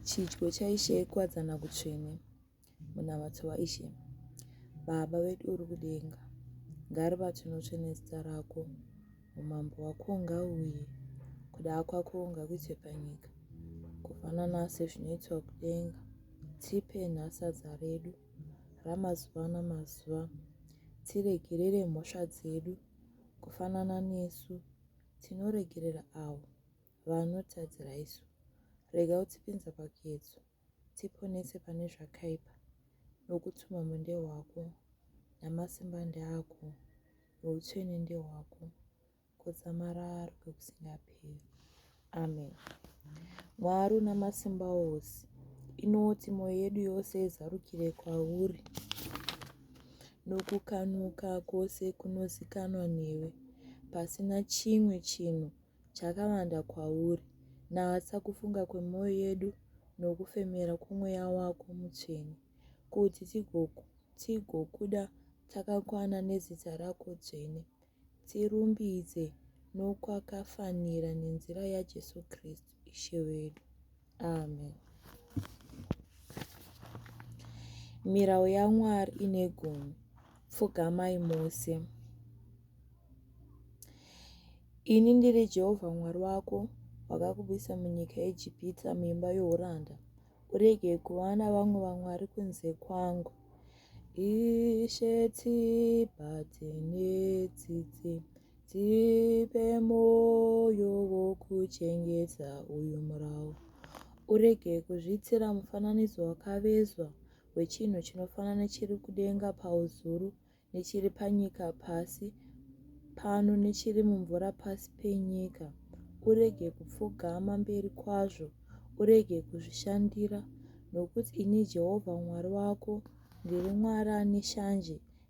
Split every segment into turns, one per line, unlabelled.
Chidyo chaIshe ikuwadzana kutsvene, munamato waIshe. Baba vedu uri kudenga, ngaribatwe notsvene zita rako. Umambo hwako ngauye, kuda kwako ngakuitwe panyika. Kufanana sezvinoitwa kudenga, tipe nhasi sadza redu ramazuva namazuva. Tiregerere mhosva dzedu, kufanana nesu tinoregerera avo Vanotadzira isu. Rega kutipinza pakedzo, tiponese pane zvakaipa, nokuti umambo ndehwako, namasimba ndeako, noutsvene ndehwako, kudzamarara kwekusingaperi. Amen. Mwari una masimba ose, inoti mwoyo yedu yose izarukire kwauri nokukanuka kwose kunozikanwa newe pasina chimwe chinhu chakawanda kwauri. Natsa kufunga kwemwoyo yedu nokufemera kwomweya wako mutsvene, kuti tigokuda takakwana nezita rako dzvene, tirumbidze nokwakafanira nenzira yaJesu Kristu Ishe wedu. Amen. Mirau yaMwari ine gumi. Pfugamai mose. Ini ndiri Jehovha Mwari wako, wakakubvisa munyika yeEgipita, muimba youranda. Urege kuvana vamwe vamwari kunze kwangu. Ishe tsibati netsitsi. Tipe moyo wokuchengeta uyu murau. Urege kuzviitira mufananidzo wakavezwa wechinhu chinofanana nechiri kudenga pauzuru, nechiri panyika pasi pano, nechiri mumvura pasi penyika. Urege kupfugama mberi kwazvo. Urege kuzvishandira, nokuti ini Jehovha Mwari wako ndiri Mwari ane shanje,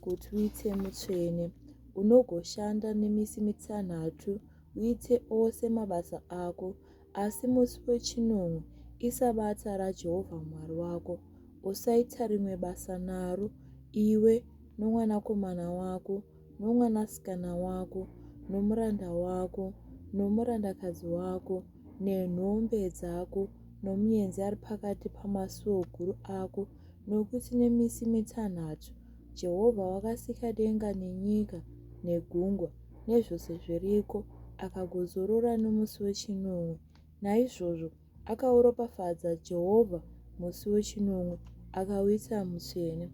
Kuti uite mutsvene, unogoshanda nemisi mitanhatu uite ose mabasa ako, asi musi wechinomwe isabata raJehovha Mwari wako. Usaita rimwe basa naro, iwe nomwanakomana wako, nomwanasikana wako, nomuranda wako, nomurandakadzi wako, nenhombe dzako, nomuenzi ari pakati pamasuo guru ako, nokuti nemisi mitanhatu Jehovha wakasika denga nenyika negungwa nezvose zviriko, akagozorora nomusi wechinomwe. Naizvozvo akauropafadza Jehovha musi wechinomwe, akauita mutsvene.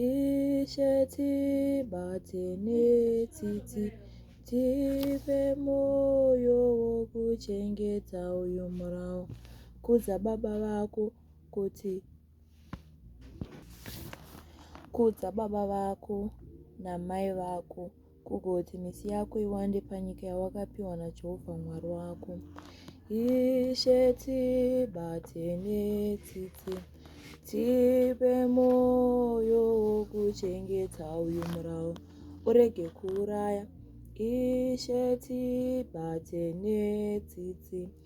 Ishe tibate netsitsi, tipe mwoyo wokuchengeta uyu murau. Kudza baba vako kuti, Kudza baba vako namai vako, kugoti misi yako iwande panyika yawakapiwa naJehovha Mwari wako. Ishe tibatene tsitsi, tipe mwoyo wokuchengeta uyu murau, urege kuuraya. Ishe tibatene tsitsi, tipe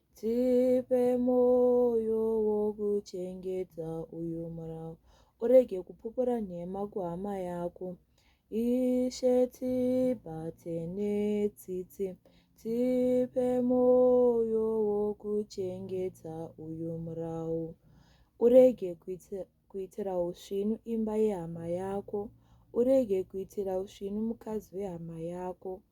Tipe mwoyo wokuchengeta uyu murau, urege kupupura nhema kuhama yako. Ishe, tibate netsitsi, tipe mwoyo wokuchengeta uyu murau, urege kuitira usvinu imba yehama yako, urege kuitira usvinu mukadzi wehama yako.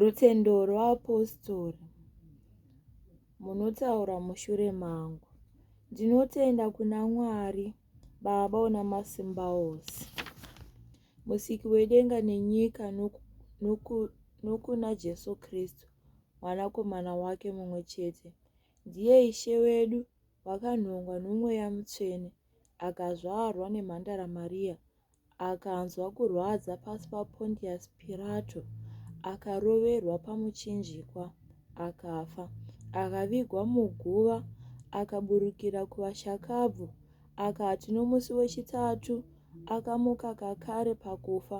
Rutendo rweapostori munotaura mushure mangu. Ndinotenda kuna Mwari Baba una masimba ose, musiki wedenga nenyika noku, noku, nokuna Jesu Kristu mwanakomana wake mumwe chete. Ndiye Ishe wedu wakanhongwa nomweya mutsvene akazvarwa nemhandara Mariya akanzwa kurwadza pasi paPontius Pirato, akaroverwa pamuchinjikwa, akafa, akavigwa muguva, akaburukira kuvashakabvu, akati nomusi wechitatu akamuka kakare pakufa,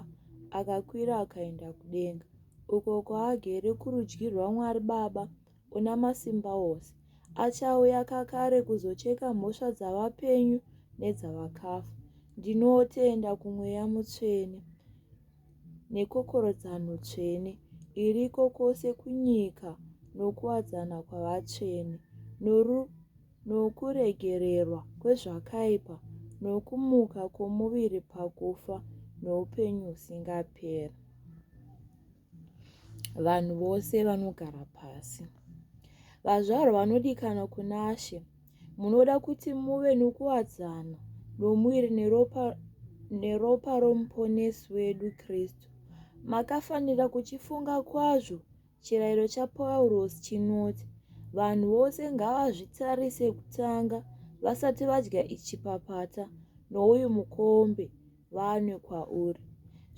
akakwira akaenda kudenga, uko kwaagere kurudyi rwaMwari Baba, una masimba ose. Achauya kakare kuzocheka mhosva dzavapenyu nedzavakafa. Ndinotenda kumweya mutsvene nekokorodzano tsvene iriko kwose kunyika nokuwadzana kwavatsvene nokuregererwa kwezvakaipa nokumuka kwomuviri pakufa noupenyu husingaperi. Vanhu vose vanogara pasi. Vazvarwa vanodikana kunaShe, munoda kuti muve nokuwadzana nomuviri neropa, neropa roMuponesi wedu Kristu. Makafanira kuchifunga kwazvo chirayiro chaPaurosi chinoti, vanhu vose ngavazvitarise kutanga vasati vadya ichi papata nouyu mukombe vanwe kwauri.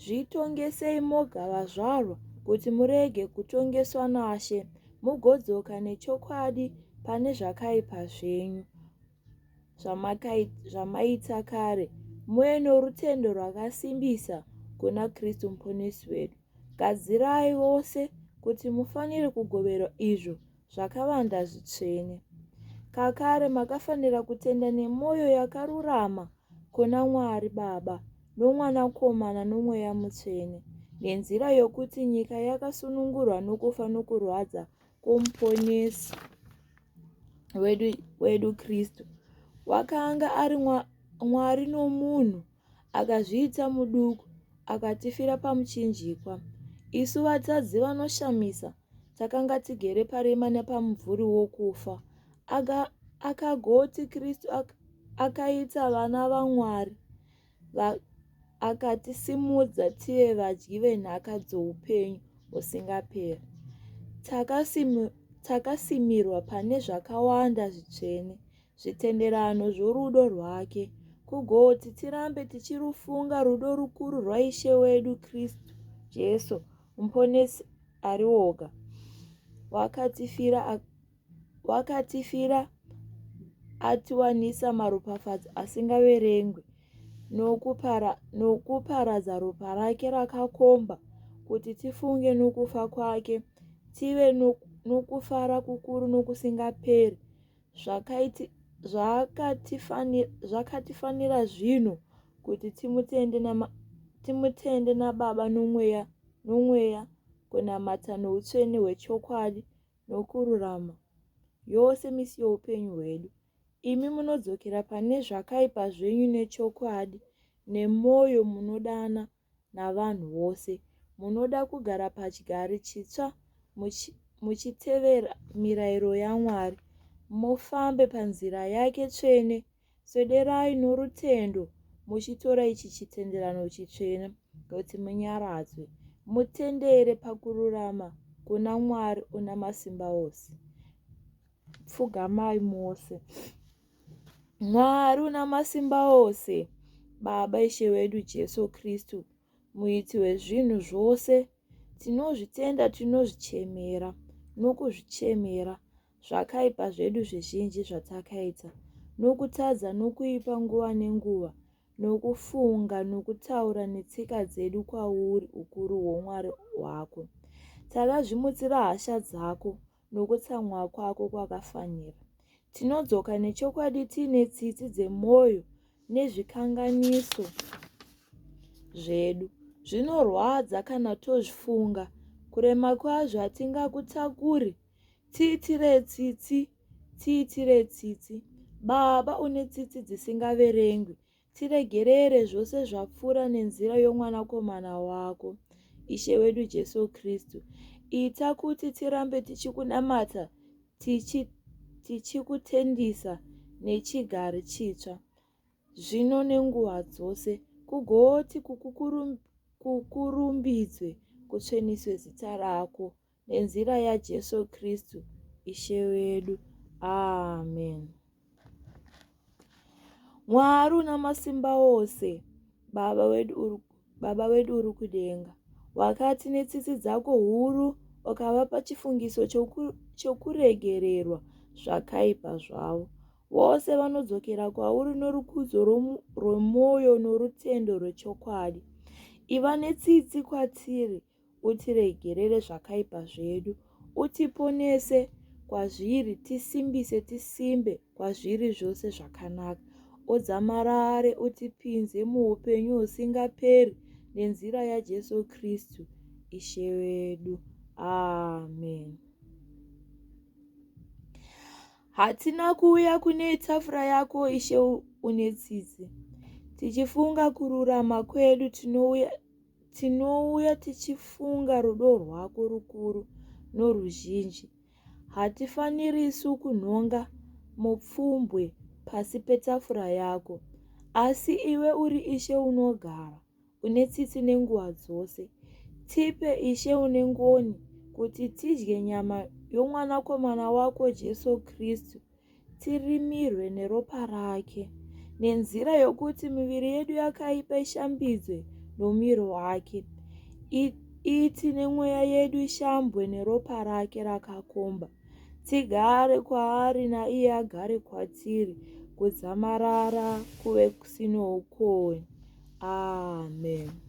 Zvitongesei moga vazvarwa kuti murege kutongeswa naShe mugodzoka nechokwadi pane zvakaipa zvenyu zvamaita kare muye norutendo rwakasimbisa kuna Kristu muponesi wedu. Gadzirai vose kuti mufanire kugoverwa izvo zvakavanda zvitsvene. Kakare makafanira kutenda nemwoyo yakarurama kuna Mwari Baba noMwanakomana noMweya Mutsvene, nenzira yokuti nyika yakasunungurwa nokufa nokurwadza kwoMuponesi wedu, wedu Kristu. Wakanga ari Mwari nomunhu, akazviita muduku, akatifira pamuchinjikwa. Isu vatadzi vanoshamisa, takanga tigere parima nepamumvuri wokufa akagoti kristu akaita vana vamwari akatisimudza tive vadyi venhaka dzoupenyu husingaperi takasimirwa pane zvakawanda zvitsvene zvitenderano zvorudo rwake kugoti tirambe tichirufunga rudo rukuru rwaishe wedu kristu jesu Muponesi ari oga. Wakatifira, wakatifira atiwanisa maropafadzo asingaverengwi nokupara, nokuparadza ropa rake rakakomba kuti tifunge nokufa kwake tive nokufara kukuru nokusingaperi zvakatifanira zvino kuti timutende nababa nomweya kunamata noutsvene hwechokwadi nokururama yose misi youpenyu hwedu imi munodzokera pane zvakaipa zvenyu nechokwadi nemwoyo munodana navanhu vose. Munoda kugara pachigari chitsva muchitevera mirayiro yaMwari, mufambe panzira yake tsvene. Swederai norutendo muchitora ichi chitenderano chitsvene kuti munyaradzwe. Mutendere pakururama kuna Mwari una masimba ose. Pfugamai mose. Mwari unamasimba ose, Baba Ishe wedu Jesu Kristu, muiti wezvinhu zvose, tinozvitenda, tinozvichemera nokuzvichemera zvakaipa zvedu zvizhinji zvatakaita nokutadza nokuipa nguva nenguva nokufunga nokutaura netsika dzedu kwauri ukuru hwomwari hwako takazvimutsira hasha dzako nokutsamwa kwako kwakafanira. Tinodzoka nechokwadi tiine tsitsi dzemwoyo nezvikanganiso zvedu. Zvinorwadza kana tozvifunga. Kurema kwazvo hatingakutakuri. Tiitire tsitsi, tiitire tsitsi. Baba une tsitsi dzisingaverengwi. Tiregerere zvose zvapfuura nenzira yomwanakomana wako, Ishe wedu Jesu Kristu. Ita kuti tirambe tichikunamata, tichikutendisa tichi nechigari chitsva, zvino nenguva dzose, kugoti kukurumbidze, kutsveniswe zita rako. Nenzira yaJesu Kristu Ishe wedu. Amen. Mwari una masimba ose, Baba wedu uri, Baba wedu uri kudenga, wakati netsitsi dzako huru ukavapa chifungiso choku, chokuregererwa zvakaipa zvavo. Vose vanodzokera kwauri norukudzo rwomwoyo norutendo rwechokwadi. Iva netsitsi kwatiri utiregerere zvakaipa zvedu, utiponese kwazviri, tisimbise tisimbe kwazviri zvose zvakanaka. Udzamarare utipinze muupenyu husingaperi nenzira yaJesu Kristu Ishe wedu. Amen. Hatina kuuya kune tafura yako Ishe une tsitsi. Tichifunga kururama kwedu tinouya Tinouya tichifunga rudo rwako rukuru noruzhinji. Hatifanirisu kunhonga mupfumbwe pasi petafura yako. Asi iwe uri Ishe unogara, une tsitsi nenguva dzose. Tipe, Ishe une ngoni, kuti tidye nyama yomwanakomana wako Jesu Kristu tirimirwe neropa rake nenzira yokuti miviri yedu yakaipa ishambidzwe nomiro wake iti nemweya yedu ishambwe neropa rake rakakomba tigare kwaari naiye agare kwatiri kudzamarara kuve kusinoukowe amen ah,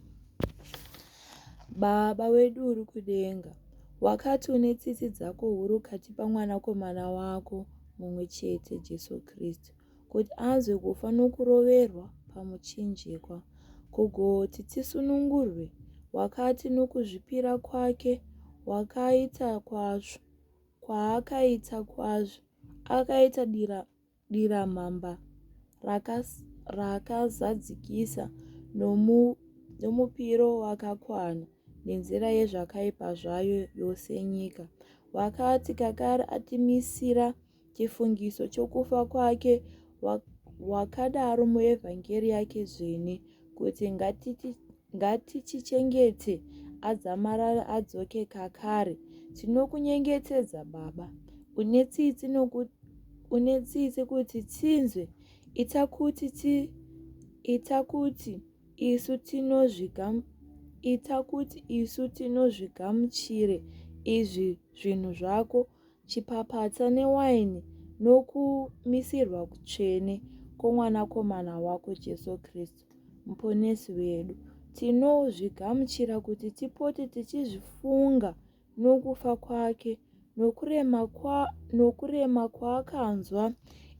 Baba wedu uri kudenga, wakati une tsitsi dzako huru ukatipa mwanakomana wako mumwe chete, Jesu Kristu, kuti anzwe kufa nokuroverwa pamuchinjikwa, kugoti tisunungurwe. Wakati nokuzvipira kwake wakaita kwazvo, kwaakaita kwazvo, akaita dira diramamba raakazadzikisa nomupiro wakakwana nenzira yezvakaipa zvayo yose nyika wakati kakari atimisira chifungiso chokufa kwake wakadaro muevhangeri yake dzvene kuti ngatiti Ngatichichengete adzamarare adzoke kakare. Tinokunyengetedza Baba. Une tsitsi nokuti une tsitsi kuti tinzwe ita kuti ti ita kuti isu tinozvigamu ita kuti isu tinozvigamuchire izvi zvinhu zvako chipapatsa newaini nokumisirwa kutsvene kwomwanakomana wako jesu kristu Muponesi wedu. Tinozvigamuchira kuti tipote tichizvifunga nokufa kwake nokurema, kwa, nokurema kwaakanzwa.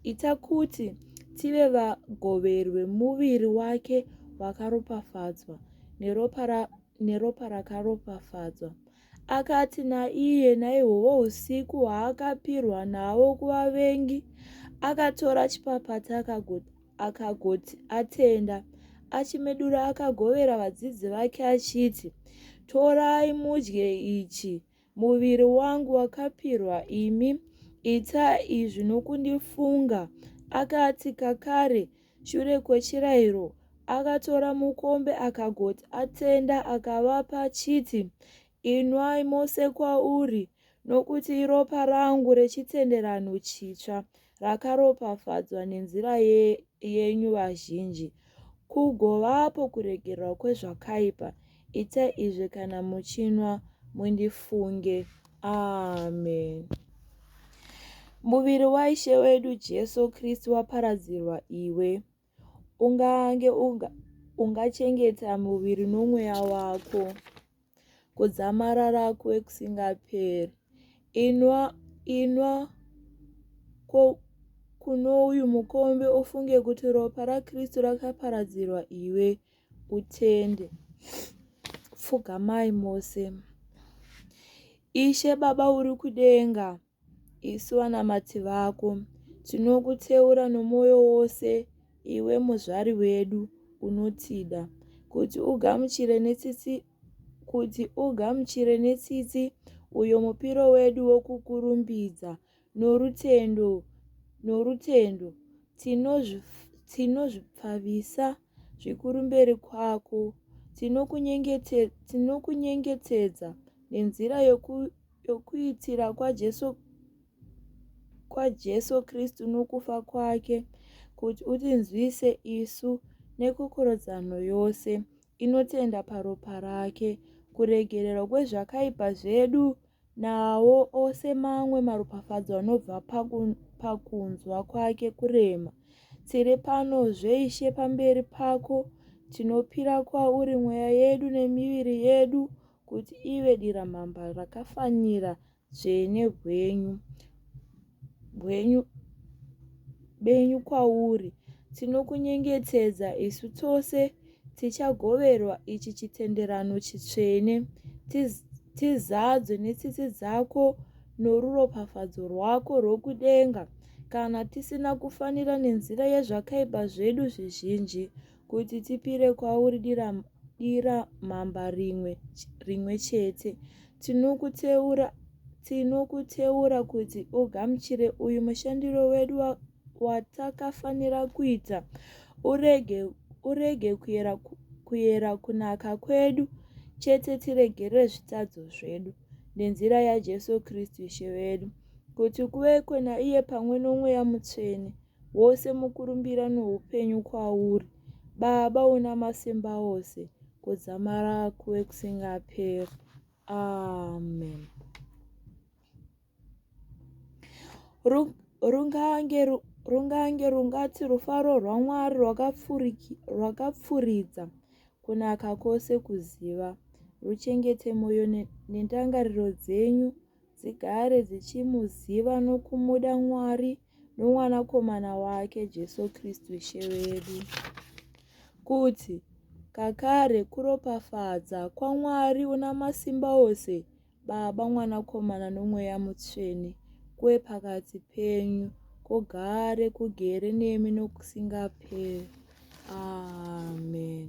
Ita kuti tive vagoveri vemuviri wake wakaropafadzwa neropa, ra, neropa rakaropafadzwa. Akati naiye naihwovo usiku hwaakapirwa nawo kuvavengi, akatora chipapata akagot Akagoti, Atenda. Achimedura akagovera vadzidzi vake achiti, Torai mudye ichi, muviri wangu wakapirwa imi. Ita izvi nokundifunga. Akati kakare, shure kwechirayiro, akatora mukombe akagoti, Atenda akavapa achiti, Inwai mose kwauri, nokuti iropa rangu rechitenderano chitsva, rakaropafadzwa nenzira ye, yenyu vazhinji, kugovapo kuregererwa kwezvakaipa. Ita izvi kana muchinwa, mundifunge. Amen. Muviri waIshe wedu Jesu Kristu waparadzirwa iwe. Ungange unga, ungachengeta muviri nomweya wako kudzamarara kwekusingaperi. Inwa, inwa ko, kuno uyu mukombe ufunge kuti ropa raKristu rakaparadzirwa iwe utende. Pfugamai mose. Ishe Baba uri kudenga. Isu vanamati vako tinokuteura nomwoyo wose, iwe muzvari wedu unotida, kuti ugamuchire netsitsi kuti ugamuchire netsitsi uyo mupiro wedu wokukurumbidza norutendo norutendo tinozvipfavisa tino zvikuru mberi kwako. Tinokunyengetedza nenzira yokuitira kwaJesu Kristu nokufa kwake kuti utinzwise isu nekokorodzano yose inotenda paropa rake, kuregererwa kwezvakaipa zvedu Nawo ose mamwe maropafadzo anobva pakunzwa kwake kurema. Tiri pano zveishe pamberi pako, tinopira kwauri mweya yedu nemiviri yedu kuti ive diramamba rakafanira dzvene hwenyu. hwenyu benyu kwauri, tinokunyengetedza isu tose tichagoverwa ichi chitenderano chitsvene, tizadzwe netsitsi dzako noruropafadzo rwako rwokudenga, kana tisina kufanira nenzira yezvakaipa zvedu zvizhinji, kuti tipire kwauri dira, dira mamba rimwe, rimwe chete. Tinokuteura, tinokuteura kuti ugamuchire uyu mushandiro wedu watakafanira kuita urege, urege kuyera, kuyera kunaka kwedu chete tiregere zvitadzo zvedu nenzira yaJesu Kristu Ishe wedu kuti kuve kwena iye pamwe nomweya mutsvene wose mukurumbira noupenyu kwauri baba una masimba ose kudzamara kuve kusingaperi amen rungange rungange rungati rufaro rwamwari rwakapfuridza kunaka kwose kuziva ruchengete mwoyo nendangariro dzenyu dzigare dzichimuziva nokumuda Mwari nomwanakomana wake Jesu Kristu Ishe wedu. Kuti kakare kuropafadza kwaMwari una masimba ose, Baba, Mwanakomana noMweya Mutsvene, kuwe pakati penyu, kugare kugere nemi nokusingaperi. Amen.